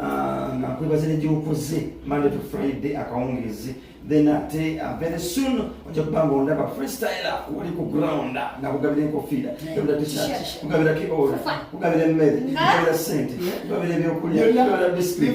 Ah, nga nkwebaza negyokoze monday to friday akawungeezi then ate uh, very soon ojja kuba nga ondaba freestyla wali ku ground nga kugabira enkofiira kugabira t-shirt kugabira kiola kugabira emmere kugabira sente kugabira ebyokulya kugabira biscuit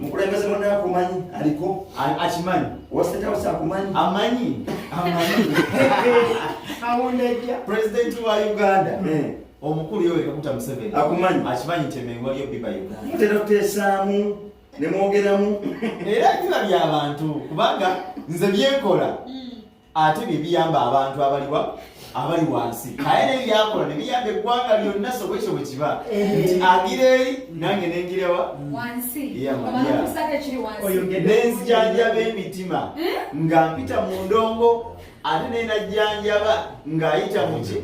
mukulembeze muna akumanyi aliko akimanyi wasetawusi akumanyi amanyi awundejja pulezidenti wa uganda eh. omukulu yowe kakuta museveni akumanyi akimanyi nti emengo aliyo biba uganda mutera kuteesaamu nemwogeramu era biba byabantu kubanga nze byenkola mm. ate bye biyamba abantu abaliwa abali wansi aye naye byakola ne biyamba eggwanga lyonna so bwekyo bwe kiba eh. nti agira eri nange nengirewa nenzijanjaba emitima eh? nga mpita mu ndongo ate naye najjanjaba ng'ayita muki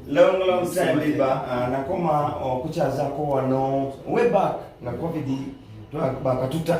long long time liba ah, nakoma okukyazako wano way back nga covid bakatuta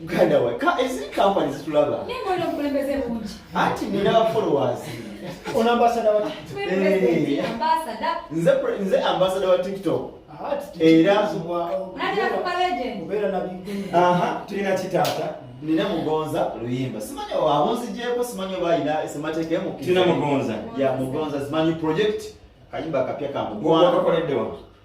muganda we eziri kampani zitulaba anti nina followers ono ambasada wa eh. nze nze ambasada wa tiktok ah, era tulina kitaata nina mugonza luyimba simanyi abunzigyeko simanyi oba alina semateeka emukirina mugonza ya mugonza simanyi project kayimba kapya kamugonza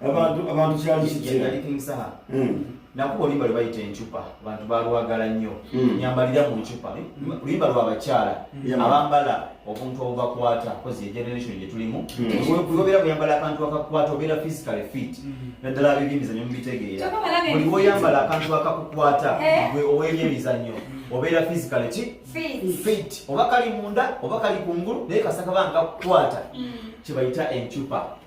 abantu abantu kyali kitya nakuba oluyimba lwe bayita encupa abantu balwagala nnyo hmm. nyambalira mu ncupa oluyimba lwa bakyala hmm. abambala obuntu obubakwata kozi egeneration gye tulimu kuyobeera hmm. buyambala akantu akakukwata obeera physically fit naddala abebyemizanyo mubitegeera buli woyambala akantu akakukwata eh? gwe owebyemizanyo obeera physically ki fit oba kali munda oba kali kungulu naye kasakaba nkakukwata kyebayita encupa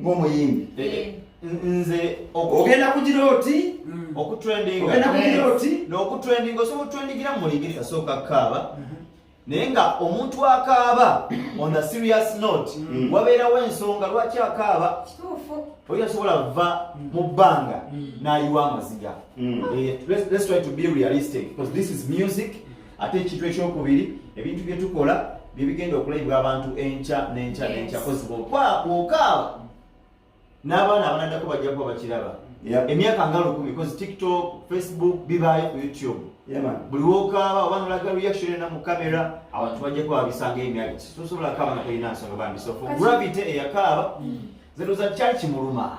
ng'omuyimbi eh. nze ogenda kugira oti mm. okutrendinga ogenda kugira oti n'okutrendinga osobola okutrendingira mu mulingiri asooka kaaba mhm. naye nga omuntu akaaba on a serious note mm. wabeerawo ensonga lwaki akaaba oyo asobola va mm. mu bbanga n'ayiwa amaziga eh, let's try to be realistic because this is music ate ekintu ekyokubiri ebintu bye tukola bye bigenda okulabibwa abantu enkya n'enkya n'enkya kozi bwokaawa n'abaana abanadako bajja kuba bakiraba emyaka nga lukumi kozi tiktok facebook bibaayo ku youtube buli wokaaba oba nolaga reaction ena mu kamera abantu bajja kuba babisanga emyaka sosobola kaaba nga tolina nsonga bambi so gravity eyakaaba mm. zino za kyali kimuluma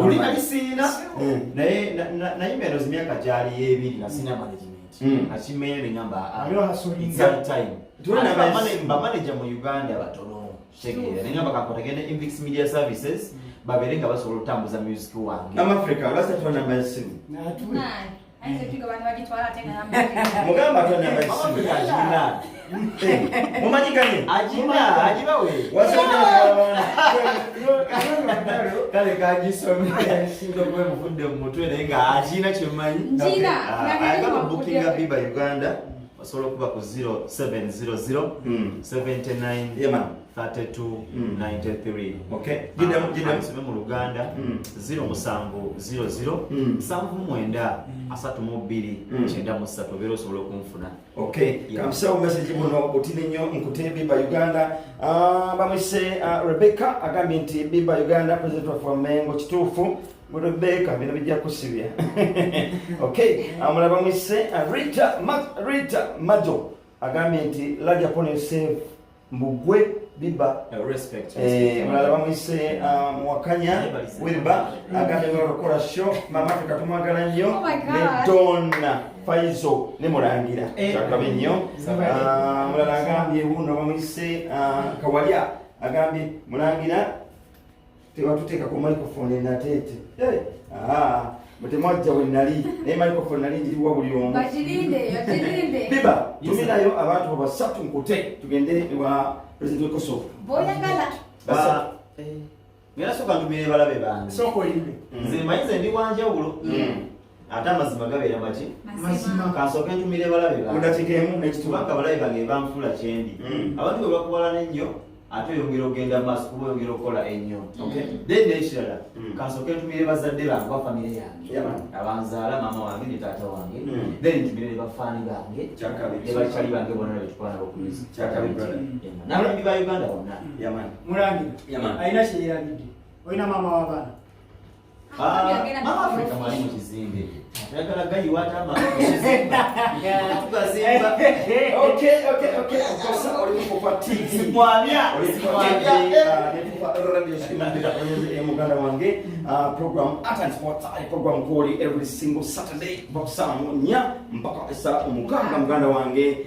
olina bisiina eh. naye nayimba eno zimyaka gyali yebiri nasina management hmm. akimeye nengamba ah, bamaneja mu uganda batono kitegeera nengamba kakotagende invix media services hmm. babeere nga basobola okutambuza music wange mugamba tonabakina mumanyiganye ajiba ajiba we kale kajisome singa kuba muvudde mu mutwe naye nga akina kyemanyi agamba bukinga biba uganda osobola okuba ku 0700 79 3293 okay jidda jidda nsome mu luganda 0700 79 32 93 obero solo kunfuna okay kamsa message muno otine nyo nkute biba uganda ah bamwise ah, rebecca agambi nti biba uganda president of mengo kitufu Rebecca bino bijja kusibya okay amulaba ah, mwise ah, rita rita majo agambi nti laja pone save mbugwe biba eh, mulala bamuyise ah, muwakanya wilba agambye okukola sho mama ffe katumwagala nnyo oh ne donna faizo ne mulangira eh. kyakabe nnyo ah, mulala agambye wuno bamuyise ah, kawalya agambye mulangira tebatuteeka ku microphone enateete eh, ah, mutemwajja we nali naye microphone nali njiriwa buli omu biba tuminayo abantu babasatu nkute tugende ewa president wekosovo boyagala eh, ngera soka ntumire balabe bange soka oyimbe mm. nze manyize ndi wanjawulo mm. ate amazima gabeera maki kansooka entumira ebalabe mudakigaemu nekitubanga abalabe bange banfuula kyendi hmm. abantu bwe bakuwalana ennyo ate oyongera ogenda maaso kuba oyongera okukola ennyo hmm. then nekirala hmm. kansooka entumire bazadde bange ba famire yange abanzaala maama wange ne taata wange then ntumire ne bafaani bange ne bakyali bange bona betukwana bokumiza nababi ba uganda bonna mulangira alina kyeyerabidde olina maama w'abaana muganda wange uh, program art and sports ali program kwoli every single saturday bakusamu nya mpaka esa omukanga muganda wange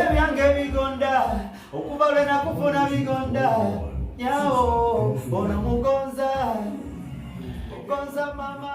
ebyange bigonda okuva lwe nakufuna bigonda nyawo ono mugonza ogonza mama